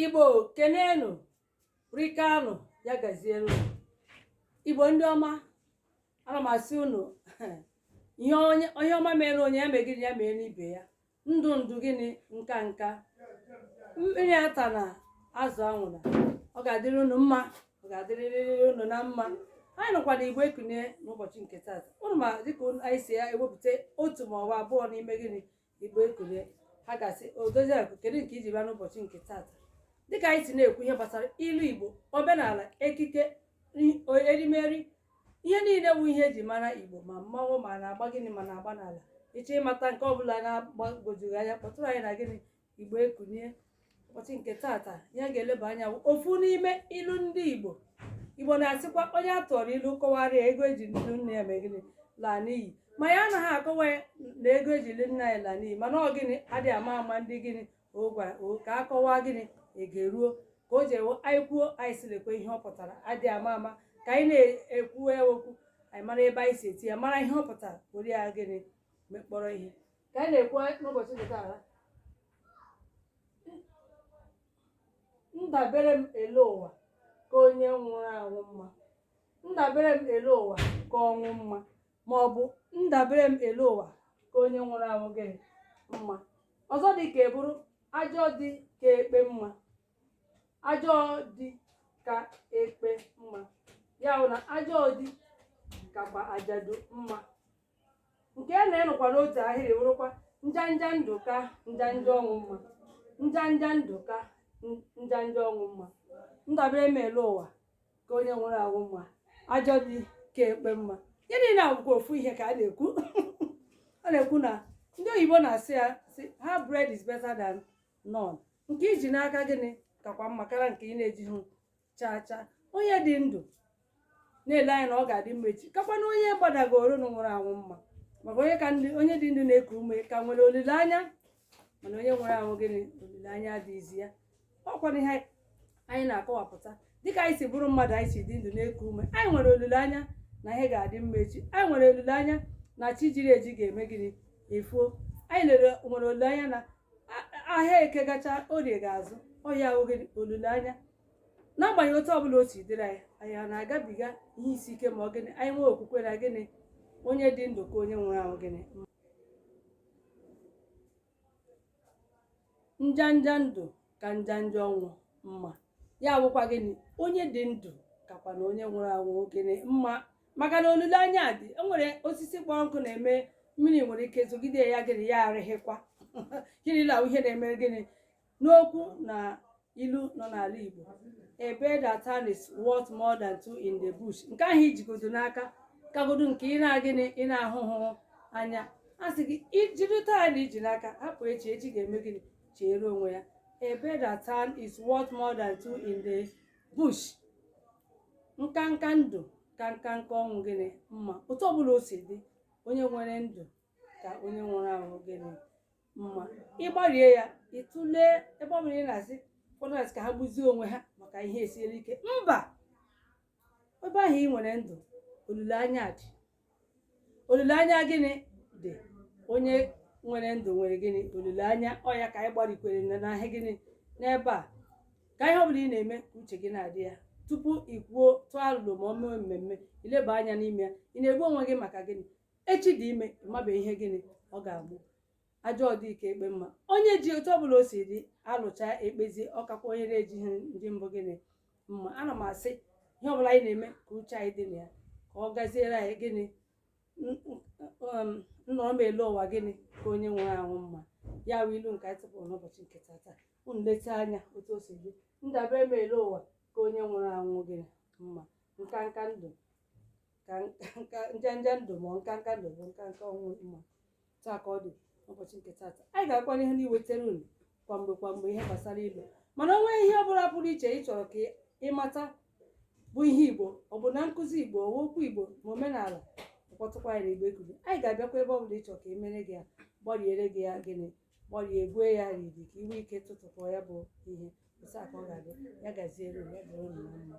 igbo kenenu rikanụ ya gaziere unu igbo ndị ọma ana m asị unu ihe ọma meere onye ya mee gịnị ya meere ibe ya ndụ ndụ gịnị nka nka mmiri atana azụ anwụna ọ ga-adịrị unu mma ọ ga-adịrịrị unu na mma anyị nọkwa na igbo ekunie n'ụbọchị nke taata unu ma dịka anyị si ya ewepụta otu ma ọ bụ abụọ n'ime gịnị igbo ekunie ha ga-asị odoziakụ kedu nke i ji bịa n'ụbọchị nke taata dịka anyị si na-ekwu ihe gbasara ilu igbo omenala ekike erimeri ihe niile bụ ihe eji mara igbo ma mmanwụ ma na-agba gịnị ma na-agba n'ala ị chọọ ịmata nke ọbụla na-agbagwoju gị anya kpọtụrụ anyị na gịnị igbo ekunie ụbọchị nke taata ihe a ga-eleba anya bụ ofu n'ime ilu ndị igbo igbo na-asịkwa onye a tụọrọ ilu kọwara ya ego eji lụ nne ya mee gịnị laa n'iyi ma anyị anaghị akọwa ya na ego eji lụ nne ya laa n'iyi mana ọ gịnị adịghị ama ama ndị gịnị o gwara o ka a kọwaa gịnị ege ruo ka o jewo anyị kwuo anyị sị lekwa ihe ọ pụtara adịghị ama ama ka anyị na-ekwu ya okwu anyị mara ebe anyị si etinye ya mara ihe ọ pụtara were ya gịnị mekpọrọ ihe ka anyị na-ekwu n'ụbọchị nke taa ndabere m ele ụwa ka onye nwụrụ anwụ mma ndabere m ele ụwa ka ọnwụ mma ma ọ bụ ndabere m ele ụwa ka onye nwụrụ anwụ gịnị mma ọzọ dị ka ya bụrụ ajọ di ka ekpe mma ajọ di ka ekpe mma ya bụ na ajọ di kakwa ajadu mma nke ya na ya nọkwa n'otu ahịrị wụrụkwa njanja ndụ ka njanja ọnwụ mma njanja ndụ ka n- njanja ọnwụ mma ndabere m ele ụwa ka onye nwụrụ anwụ mma ajọ di ka ekpe mma ihe niile a bụkwa ofu ihe ka a na-ekwu a na-ekwu na ndị oyibo na-asị ya sị half bread is better than none nke i ji n'aka gịnị kakwa mma karịa nke ị na-ejighị chaa chaa onye dị ndụ na-ele anya na ọ ga-adị mma echi kakwanụ onye gbadagoro na nwụrụ anwụ mma maka onye ka dị onye dị ndụ na-eku ume ka nwere olileanya mana onye nwụrụ anwụ gịnị olileanya adịghịzi ya ọkwa na ihe anyị na-akọwapụta dịka anyị si bụrụ mmadụ anyị si dị ndụ na-eku ume anyị nwere olileanya na ihe ga-adị mma echi anyị nwere olileanya na chi jiri eji ga-eme gịnị efo anyị lere nwere olileanya na ahịa eke gachaa orie ga-azụ ọ ya wụ gịnị olileanya n'agbanyeghị otu ọbụla o si dịrị anyị anyị a na-agabiga ihe isi ike ma ọ gịnị anyị nwee okwukwe na gịnị onye dị ndụ ka onye nwụrụ anwụ gịnị njanja ndụ ka njanja ọnwụ mma ya bụkwa gịnị onye dị ndụ kakwanụ onye nwụrụ anwụ gịnị mma maka na olileanya dị o nwere osisi kpọrọ nkụ na-eme mmiri nwere ike zogide ya gịnị ya arịghịkwa gịnị la ihe na-emere gịnị n'okwu na ilu nọ n'ala Igbo a bird at hand is worth more than two in the bush nke ahụ i jigodo n'aka kagodo nke ị na gịnị ị na-ahụhụ anya a sị gị ijiri taa na iji n'aka hapụ echi echi ga-eme gịnị cheere onwe ya a bird at hand is worth more than two in the bush nka nka ndụ ka nka nka ọnwụ gịnị mma otu ọbụla o si dị onye nwere ndụ ka onye nwụrụ anwụ gịnị mma ị gbarie ya ị tụlee ebe ọbụla ị na-asị ụfọdụ na-asị ka ha gbuzie onwe ha maka ihe siere ike mba ebe ahụ ị nwere ndụ olileanya dị olileanya gịnị dị onye nwere ndụ nwere gịnị olileanya ọ ya ka anyị gbarikwere na na ihe gịnị n'ebe a ka ihe ọbụla ị na-eme ka uche gị na-adị ya tupu ị kwuo tụọ alụlụ ma ọ mee mmemme i leba anya n'ime ya ị na-egbu onwe gị maka gịnị echi dị ime ị mabeghị ihe gịnị ọ ga-amụ ajọ di ka ekpe mma onye ji otu ọbụla o si dị a lụcha e kpezie ọ kakwa onye na-ejighị di mbụ gịnị mma ana m asị ihe ọbụla anyị na-eme ka uche anyị dị na ya ka ọ gaziere anyị gịnị n- n- um, nnọrọ m ele ụwa gịnị ka onye nwụrụ anwụ mma ya wụ ilu nke anyị tụpụrụ n'ụbọchị nke tata unu leta anya otu o si dị ndabere m ele ụwa ka onye nwụrụ anwụ gịnị mma nka nka ndụ ka nka nka njanja ndụ ma ọ nka nka ndụ bụ nka nka ọnwụ mma otu a ka ọ dị n'ụbọchị nke tata anyị ga-agakwa n'ihu n'iwetara unu kwa mgbe kwa mgbe ihe gbasara ilu mana o nwee ihe ọbụla pụrụ iche ị chọrọ ka ị mata bụ ihe igbo ọ bụ na nkụzi igbo ọ wụ okwu igbo ma omenala kpọtụkwa anyị na igbo ekulie anyị ga-abịakwa ebe ọbụla ị chọrọ ka e mere gị ya gbariere gị ya gịnị gbarie e gwee ya riri ka i nwee ike tụtụkọ ya bụ ihe otu a ka ọ ga-adị ya gaziere unu, ya dịrị unu na mma